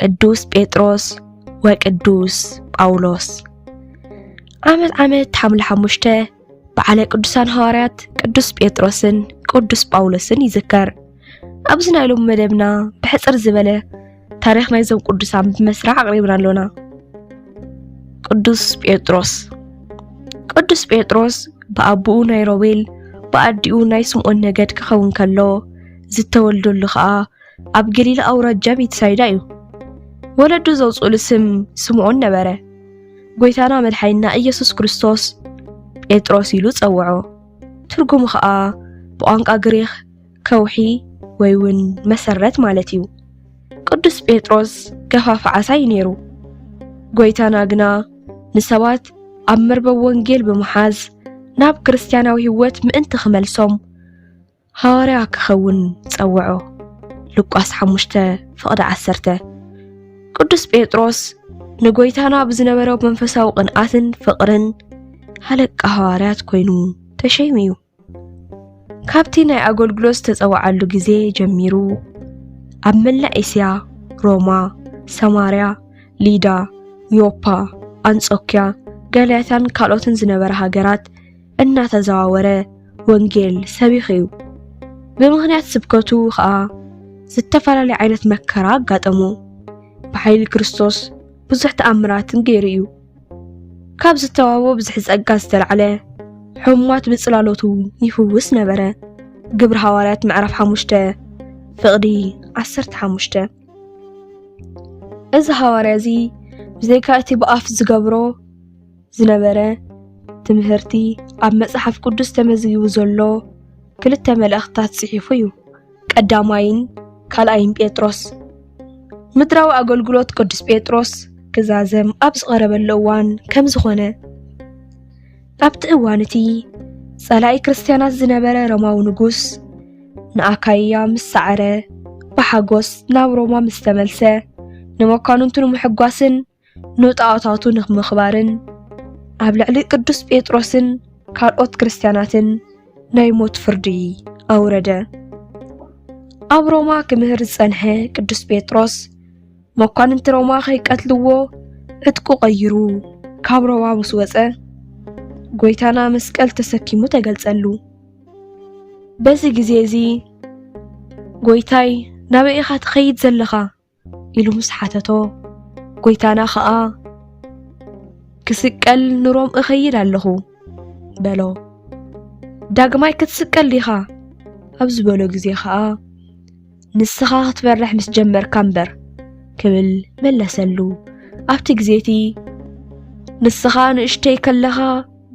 ቅዱስ ጴጥሮስ ወቅዱስ ጳውሎስ ዓመት ዓመት ሓምለ ሓሙሽተ በዓለ ቅዱሳን ሃዋርያት ቅዱስ ጴጥሮስን ቅዱስ ጳውሎስን ይዝከር። ኣብዚ ናይ ሎሚ መደብና ብሕፅር ዝበለ ታሪክ ናይዞም ቅዱሳን ብመስርዕ ኣቕሪብና ኣሎና። ቅዱስ ጴጥሮስ ቅዱስ ጴጥሮስ ብኣቦኡ ናይ ሮቤል ብኣዲኡ ናይ ስምዖን ነገድ ክኸውን ከሎ ዝተወልደሉ ከዓ ኣብ ገሊላ ኣውራጃ ቤትሳይዳ እዩ። ወለዱ ዘውፅኡሉ ስም ስምዖን ነበረ። ጎይታና መድሓይና ኢየሱስ ክርስቶስ ጴጥሮስ ኢሉ ጸውዖ። ትርጉሙ ኸኣ ብቋንቋ ግሪኽ ከውሒ ወይ እውን መሰረት ማለት እዩ። ቅዱስ ጴጥሮስ ገፋፊ ዓሳ እዩ ነይሩ። ጎይታና ግና ንሰባት ኣብ መርበብ ወንጌል ብምሓዝ ናብ ክርስትያናዊ ህይወት ምእንቲ ክመልሶም ሃዋርያ ክኸውን ጸውዖ። ሉቃስ ሓሙሽተ ፍቕዲ ዓሰርተ ቅዱስ ጴጥሮስ ንጎይታና ብዝነበረ መንፈሳዊ ቅንኣትን ፍቕርን ሃለቃ ሃዋርያት ኮይኑ ተሸይሙ እዩ። ካብቲ ናይ ኣገልግሎት ዝተጸውዓሉ ግዜ ጀሚሩ ኣብ መላእ እስያ፣ ሮማ፣ ሰማርያ፣ ሊዳ፣ ዮፓ፣ ኣንጾክያ፣ ጋልያታን ካልኦትን ዝነበረ ሃገራት እናተዘዋወረ ወንጌል ሰቢኹ እዩ። ብምኽንያት ስብከቱ ኸኣ ዝተፈላለየ ዓይነት መከራ ኣጋጠሞ። ብሓይሊ ክርስቶስ ብዙሕ ተኣምራትን ገይሩ እዩ። ካብ ዝተዋህቦ ብዝሒ ጸጋ ዝተላዕለ ሕሙማት ብጽላሎቱ ይፍውስ ነበረ። ግብሪ ሃዋርያት ምዕራፍ 5 ፍቕዲ 15 እዚ ሃዋርያ እዚ ብዘይካ እቲ ብኣፍ ዝገብሮ ዝነበረ ትምህርቲ ኣብ መጽሓፍ ቅዱስ ተመዝጊቡ ዘሎ ክልተ መልእኽትታት ጽሒፉ እዩ። ቀዳማይን ካልኣይን ጴጥሮስ ምድራዊ ኣገልግሎት ቅዱስ ጴጥሮስ ክዛዘም ኣብ ዝቐረበሉ እዋን ከም ዝኾነ ኣብቲ እዋን እቲ ጸላኢ ክርስትያናት ዝነበረ ሮማዊ ንጉስ ንኣካይያ ምስ ሰዓረ ብሓጎስ ናብ ሮማ ምስ ተመልሰ ንመኳንንቱ ንምሕጓስን ንጣዖታቱ ንምኽባርን ኣብ ልዕሊ ቅዱስ ጴጥሮስን ካልኦት ክርስትያናትን ናይ ሞት ፍርዲ ኣውረደ። ኣብ ሮማ ክምህር ዝጸንሐ ቅዱስ ጴጥሮስ መኳንንቲ ሮማ ከይቀትልዎ ዕጥቁ ቀይሩ ካብ ሮማ ምስ ወጸ ጎይታና መስቀል ተሰኪሙ ተገልጸሉ። በዚ ግዜ እዚ ጎይታይ ናበይ ኢኻ ትኸይድ ዘለኻ? ኢሉ ምስ ሓተቶ ጎይታና ኸኣ ክስቀል ንሮም እኸይድ ኣለኹ በሎ። ዳግማይ ክትስቀል ዲኻ ኣብ ዝበሎ ግዜ ኸኣ ንስኻ ክትፈርሕ ምስ ጀመርካ እምበር ክብል መለሰሉ። ኣብቲ ግዜ እቲ ንስኻ ንእሽተይ ከለኻ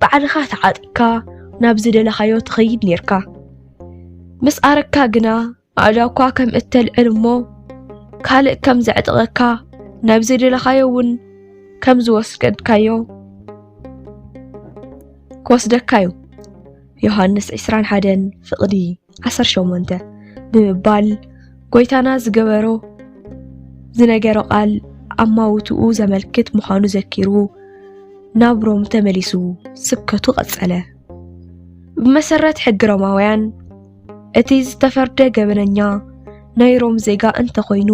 ባዕልኻ ተዓጢቅካ ናብ ዝደለኻዮ ትኸይድ ኔርካ ምስ ኣረካ ግና ኣእዳውካ ከም እተልዕል እሞ ካልእ ከም ዘዕጥቐካ ናብ ዘደለኻዮ እውን ከም ዝወስደካዮ ክወስደካ እዩ ዮሃንስ 21 ፍቕዲ 18 ብምባል ጎይታና ዝገበሮ ዝነገሮ ቃል ኣማውትኡ ዘመልክት ምዃኑ ዘኪሩ ናብ ሮም ተመሊሱ ስብከቱ ቀጸለ። ብመሰረት ሕጊ ሮማውያን እቲ ዝተፈርደ ገበነኛ ናይ ሮም ዜጋ እንተኾይኑ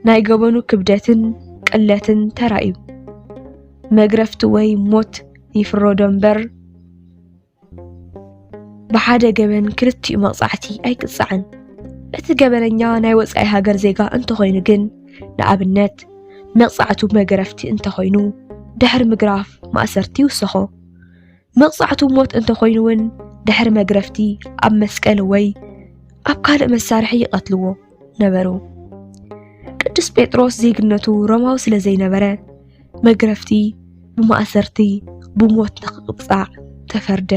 ናይ ገበኑ ክብደትን ቅለትን ተራእዩ መግረፍቲ ወይ ሞት ይፍረዶ እምበር ብሓደ ገበን ክልቲኡ መቕጻዕቲ ኣይቅጻዕን። እቲ ገበነኛ ናይ ወጻኢ ሃገር ዜጋ እንተኾይኑ ግን ንኣብነት መቕጻዕቱ መገረፍቲ እንተኾይኑ ድሕሪ ምግራፍ ማእሰርቲ ይውሰኾ። መቕጻዕቱ ሞት እንተኾይኑ እውን ድሕሪ መግረፍቲ ኣብ መስቀል ወይ ኣብ ካልእ መሳርሒ ይቐትልዎ ነበሩ። ቅዱስ ጴጥሮስ ዜግነቱ ሮማዊ ስለ ዘይነበረ መግረፍቲ ብማእሰርቲ ብሞት ንኽቕጻዕ ተፈርደ።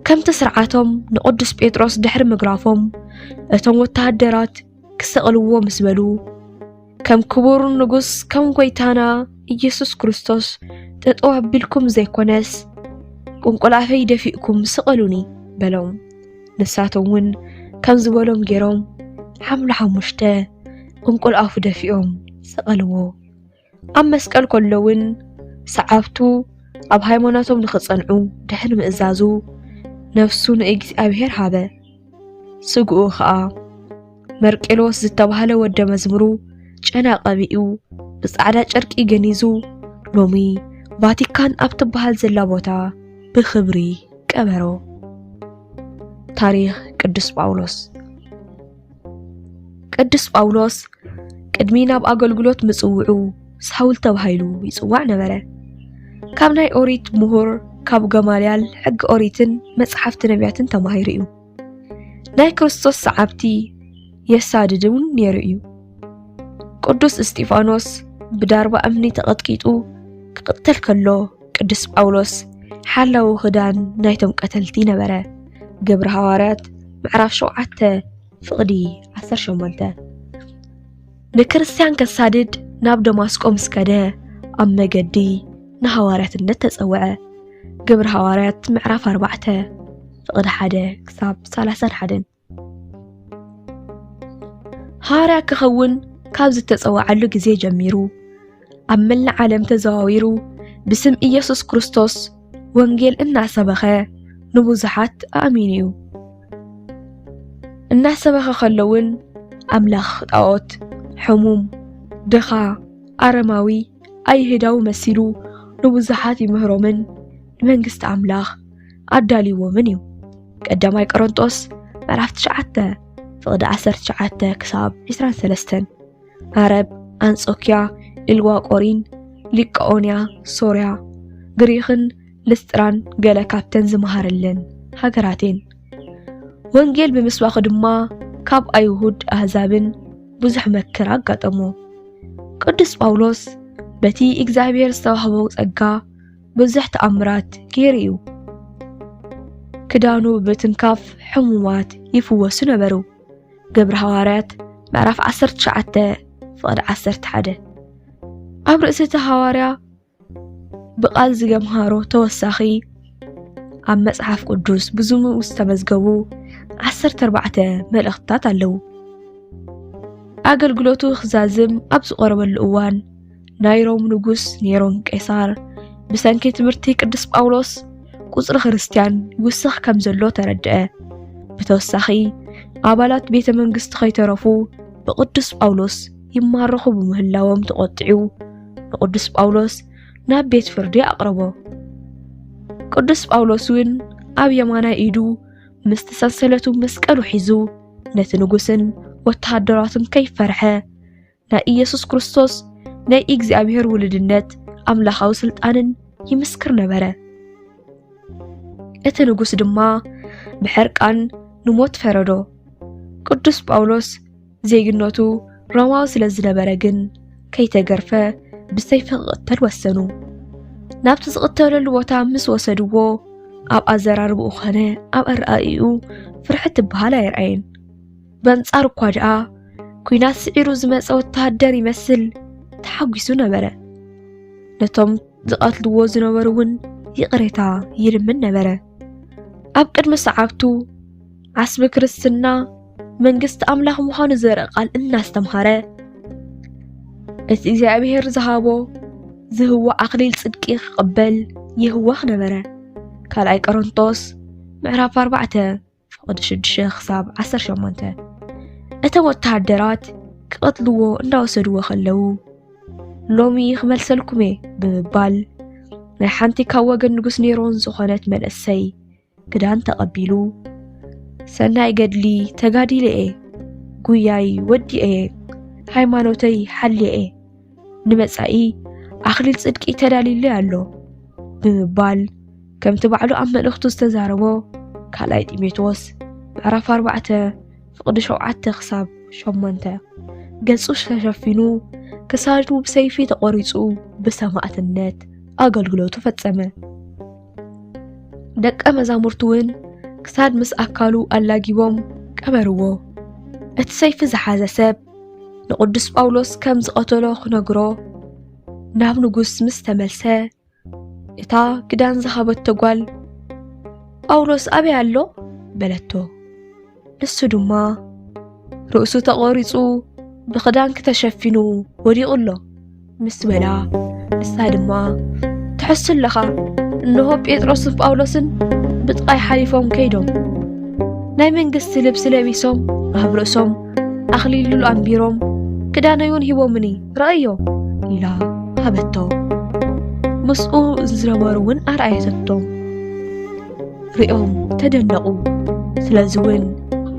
ከምቲ ስርዓቶም ንቅዱስ ጴጥሮስ ድሕሪ ምግራፎም እቶም ወተሃደራት ክሰቕልዎ ምስ በሉ ከም ክቡር ንጉስ ከም ጎይታና ኢየሱስ ክርስቶስ ጠጠው ኣቢልኩም ዘይኮነስ ቁንቁል ኣፈይ ደፊእኩም ስቐሉኒ በሎም። ንሳቶም እውን ከም ዝበሎም ገይሮም ሓምሉ ሓሙሽተ ቁንቁል ኣፉ ደፊኦም ሰቐልዎ። ኣብ መስቀል ከሎ እውን ሰዓብቱ ኣብ ሃይማኖቶም ንኽጸንዑ ድሕሪ ምእዛዙ ነፍሱ ንእግዚኣብሔር ሃበ። ስግኡ ኸኣ መርቄሎስ ዝተባህለ ወደ መዝሙሩ ጨና ቀቢኡ ብጻዕዳ ጨርቂ ገኒዙ ሎሚ ቫቲካን ኣብ ትበሃል ዘላ ቦታ ብኽብሪ ቀበሮ። ታሪኽ ቅዱስ ጳውሎስ ቅዱስ ጳውሎስ ቅድሚ ናብ ኣገልግሎት ምጽውዑ ሳውል ተባሂሉ ይጽዋዕ ነበረ። ካብ ናይ ኦሪት ምሁር ካብ ገማልያል ሕጊ ኦሪትን መጽሓፍቲ ነቢያትን ተማሂሩ እዩ። ናይ ክርስቶስ ሰዓብቲ የሳድድ እውን ነይሩ እዩ። ቅዱስ እስጢፋኖስ ብዳርባ እምኒ ተቐጥቂጡ ክቕተል ከሎ ቅዱስ ጳውሎስ ሓላዊ ክዳን ናይቶም ቀተልቲ ነበረ። ግብሪ ሃዋርያት ምዕራፍ 7 ፍቕዲ 18 ንክርስትያን ከሳድድ ናብ ደማስቆ ምስ ከደ ኣብ መገዲ ንሃዋርያትነት ተጸውዐ። ግብሪ ሃዋርያት ምዕራፍ 4 ፍቕዲ 1 ክሳብ 31 ሃዋርያ ክኸውን ካብ ዝተጸውዓሉ ግዜ ጀሚሩ ኣብ መላእ ዓለም ተዘዋዊሩ ብስም ኢየሱስ ክርስቶስ ወንጌል እናሰበኸ ንብዙሓት ኣእሚኑ እዩ። እናሰበኸ ከሎ እውን ኣምላኽ ጣዖት፣ ሕሙም፣ ድኻ፣ ኣረማዊ፣ ኣይሁዳዊ መሲሉ ንብዙሓት ይምህሮምን ንመንግስቲ ኣምላኽ ኣዳልዎምን እዩ። ቀዳማይ ቆሮንጦስ ምዕራፍ 9 ፍቕዲ 19 ክሳብ 23 ዓረብ፣ ኣንጾክያ፣ ኢልዋ ቆሪን፣ ሊቃኦንያ፣ ሶርያ፣ ግሪኽን ልስጥራን ገለ ካብተን ዝመሃረለን ሃገራት እየን። ወንጌል ብምስባኹ ድማ ካብ ኣይሁድ ኣህዛብን ብዙሕ መከራ ኣጋጠሞ። ቅዱስ ጳውሎስ በቲ እግዚኣብሔር ዝተዋህቦ ጸጋ ብዙሕ ተኣምራት ገይሩ እዩ። ክዳኑ ብምትንካፍ ሕሙማት ይፍወሱ ነበሩ። ግብሪ ሃዋርያት ምዕራፍ 19 ፍቕዲ 11 ኣብ ርእሲ እቲ ሃዋርያ ብቓል ዝገምሃሮ ተወሳኺ ኣብ መጽሓፍ ቅዱስ ብዙሙ ዝተመዝገቡ 14 መልእኽትታት ኣለዉ። ኣገልግሎቱ ክዛዝም ኣብ ዝቐረበሉ እዋን ናይ ሮም ንጉስ ኔሮን ቄሳር ብሰንኪ ትምህርቲ ቅዱስ ጳውሎስ ቁጽሪ ክርስትያን ይውስኽ ከም ዘሎ ተረድአ። ብተወሳኺ ኣባላት ቤተ መንግስቲ ከይተረፉ ብቅዱስ ጳውሎስ ይማረኹ ብምህላዎም ተቖጢዑ ንቅዱስ ጳውሎስ ናብ ቤት ፍርዲ ኣቕረቦ። ቅዱስ ጳውሎስ እውን ኣብ የማናይ ኢዱ ምስቲ ሰንሰለቱ መስቀሉ ሒዙ ነቲ ንጉስን ወተሃደራቱን ከይፈርሐ ናይ ኢየሱስ ክርስቶስ ናይ እግዚኣብሔር ውልድነት ኣምላኻዊ ስልጣንን ይምስክር ነበረ። እቲ ንጉስ ድማ ብሕርቃን ንሞት ፈረዶ። ቅዱስ ጳውሎስ ዜግነቱ ሮማዊ ስለ ዝነበረ ግን ከይተገርፈ ብሰይፊ ክቕተል ወሰኑ። ናብቲ ዝቕተለሉ ቦታ ምስ ወሰድዎ ኣብ ኣዘራርብኡ ኾነ ኣብ ኣረኣእኡ ፍርሒ ትበሃል ኣይርኣየን። በንጻሩ እኳ ደኣ ኲናት ስዒሩ ዝመጸ ወተሃደር ይመስል ተሓጒሱ ነበረ። ነቶም ዝቐትልዎ ዝነበሩ እውን ይቕሬታ ይልምን ነበረ። ኣብ ቅድሚ ሰዓብቱ ዓስቢ ክርስትና መንግስቲ ኣምላኽ ምዃኑ ዘርኢ ቃል እናስተምሃረ እቲ እግዚኣብሔር ዝሃቦ ዝህዋ ኣኽሊል ጽድቂ ክቕበል ይህዋኽ ነበረ። ካልኣይ ቆሮንቶስ ምዕራፍ 4 ፍቕዲ ሽዱሽተ ክሳብ ዓሰርተ ሸሞንተ እቶም ወተሃደራት ክቐትልዎ እንዳወሰድዎ ከለዉ ሎሚ ክመልሰልኩም እየ ብምባል ናይ ሓንቲ ካብ ወገን ንጉስ ኔሮን ዝኾነት መንእሰይ ክዳን ተቐቢሉ ሰናይ ገድሊ ተጋዲለ እየ ጉያይ ወዲአ እየ ሃይማኖተይ ሓልየ እየ ንመጻኢ ኣኽሊል ጽድቂ ተዳልዩለይ ኣሎ ብምባል ከምቲ ባዕሉ ኣብ መልእኽቱ ዝተዛረቦ ካልኣይ ጢሞቴዎስ ምዕራፍ 4 ፍቕዲ 7 ክሳብ 8 ገጹ ተሸፊኑ ክሳዱ ብሰይፊ ተቖሪጹ ብሰማእትነት ኣገልግሎቱ ፈጸመ። ደቀ መዛሙርቱ እውን ክሳድ ምስ ኣካሉ ኣላጊቦም ቀበርዎ። እቲ ሰይፊ ዝሓዘ ሰብ ንቅዱስ ጳውሎስ ከም ዝቐተሎ ክነግሮ ናብ ንጉስ ምስ ተመልሰ እታ ክዳን ዝሃበቶ ጓል ጳውሎስ ኣበይ ኣሎ በለቶ። ንሱ ድማ ርእሱ ተቖሪጹ ብኽዳንኪ ተሸፊኑ ወዲቑ ኣሎ ምስ በላ፣ ንሳ ድማ፣ ትሐሱ ኣለኻ፣ እንሆ ጴጥሮስን ጳውሎስን ብጥቓይ ሓሊፎም ከይዶም፣ ናይ መንግስቲ ልብሲ ለቢሶም፣ ኣብ ርእሶም ኣኽሊል ሉል ኣንቢሮም፣ ክዳነይውን ሂቦምኒ፣ ርኣዮ፣ ኢላ ሃበቶ። ምስኡ ዝነበሩውን ኣርኣየተቶም፣ ርእዮም ተደነቑ፣ ስለዚውን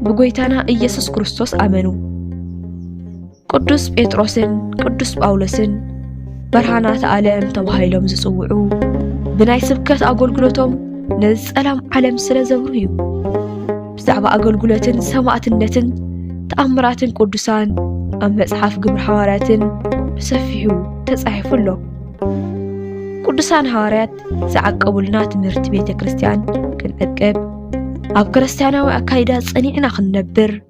ብጐይታና ኢየሱስ ክርስቶስ ኣመኑ። ቅዱስ ጴጥሮስን ቅዱስ ጳውሎስን በርሃናት ዓለም ተባሂሎም ዝጽውዑ ብናይ ስብከት ኣገልግሎቶም ነዚ ጸላም ዓለም ስለ ዘብሩ እዩ። ብዛዕባ ኣገልግሎትን ሰማእትነትን ተኣምራትን ቅዱሳን ኣብ መጽሓፍ ግብሪ ሃዋርያትን ብሰፊሑ ተጻሒፉ ኣሎ። ቅዱሳን ሃዋርያት ዝዓቀቡልና ትምህርቲ ቤተ ክርስቲያን ክንዕቅብ ኣብ ክርስቲያናዊ ኣካይዳ ጸኒዕና ክንነብር